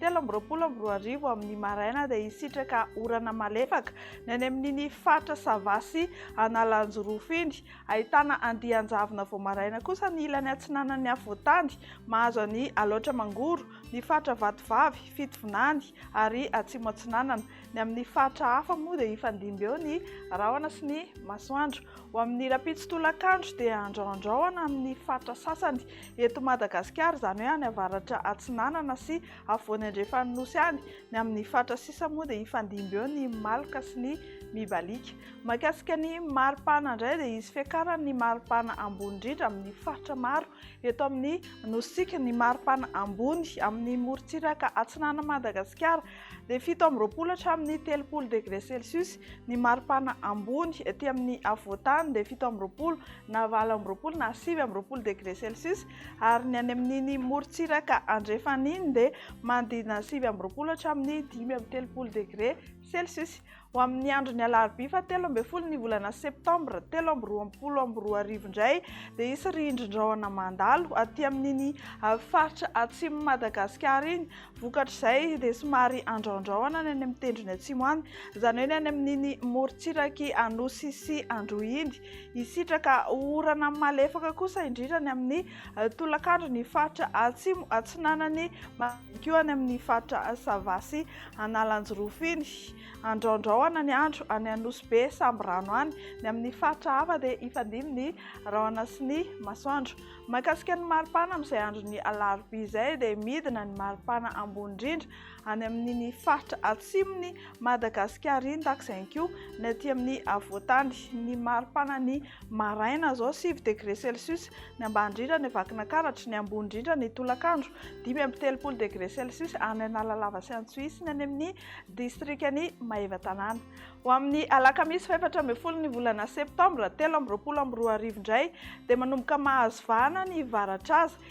telo amby roapolo amby roa arivo amin'ny maraina dia hisitraka orana malefaka ny any amin'iny faritra Sava sy Analanjirofo iny. Ahitana andian-javona vao maraina kosa ny ilany atsinanan'ny afovoan-tany mahazo an'i Alaotra Mangoro, ny faritra Vatovavy, Fitovinany ary Atsimo Atsinanana. Ny amin'ny faritra hafa moa dia hifandimby eo ny rahona sy ny masoandro. Ho amin'ny rahampitso tolakandro dia andraoandraoana amin'ny faritra sasany eto Madagasikara, izany hoe any avaratra atsinanana sy afovoany andrefan'ny Nosy any. Ny amin'ny fatra sisa moa dia hifandimby eo ny maloka sy ny mibaliaka. Mahakasika ny maripana indray dia hisy fiakarany ny maripana ambony indrindra amin'ny faritra maro eto amin'ny Nositsika, ny maripana ambony amin'ny morontsiraka atsinanan'i Madagasikara. dia fito amby roapolo hatramin'ny telopolo degré celsius, ny maripana ambony ety amin'ny afovoan-tany dia fito amby roapolo na valo amby roapolo na sivy amby roapolo degré celsius, ary ny any amin'iny morontsiraka andrefana iny dia manodidina sivy amby roapolo hatramin'ny dimy amby telopolo degré celsius. Ho amin'ny andron'ny alarobia fahatelo ambin'ny folo ny volana septambra telo amby roapolo amby roa arivo indray dia hisy rindrin-drahona mandalo aty amin'iny ah, faritra atsimon'i Madagasikara iny. Vokatr'izay dia somary andraondraona ny any amin'ny tendrony atsimo any, izany hoe ny any amin'iny morontsirak'i Anosy sy Androy iny. Hisitraka orana malefaka kosa indrindra ny amin'ny ah, tolakandro ny faritra atsimo atsinanan'i ihany koa any amin'ny faritra Sava sy Analanjirofo iny. Andraondraona ny andro any Anosy Be, Sambirano any. Ny amin'ny faritra hafa dia hifandimby ny rahona sy ny masoandro. Mahakasika ny maripana amin'izay andron'ny alarobia izay dia midina ny maripana ambony indrindra any amin'iny faritra atsimon'i Madagasikara iny takzay ihany koa ny aty amin'ny afovoan-tany. Ny maripana ny maraina izao sivy degré celsius ny ambany indrindra any Vakinankaratra, ny ambony indrindra ny tolakandro dimy amby telopolo degré celsius any Analalava sy Antsohihy ny any amin'ny distrikan'i Maevatanàna. Ho amin'ny alakamisy fahefatra ambin'ny folo ny volana septambra telo amby roapolo amby roa arivo indray dia manomboka mahazo vahana ny varatraza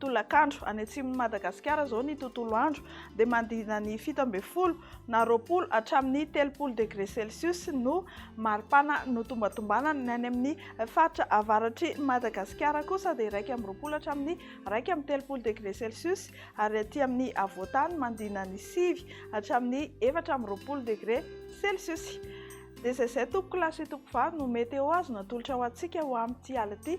Tolakandro, any atsimon'i Madagasikara izao ny tontolo andro dia manodidina ny fito ambin'ny folo na roapolo hatramin'ny telopolo degre celsius no maripana notombatombanana, ny any amin'ny faritra avaratr'i Madagasikara kosa dia iraika amby roapolo hatramin'ny iraika amby telopolo degre celsius ary aty amin'ny afovoantany manodidina ny sivy hatramin'ny efatra amby roapolo degre celsius. Dia izay izay tompokolahy sy tompokovavy no météo azo natolotra ho antsika ho amin'ity alina ity.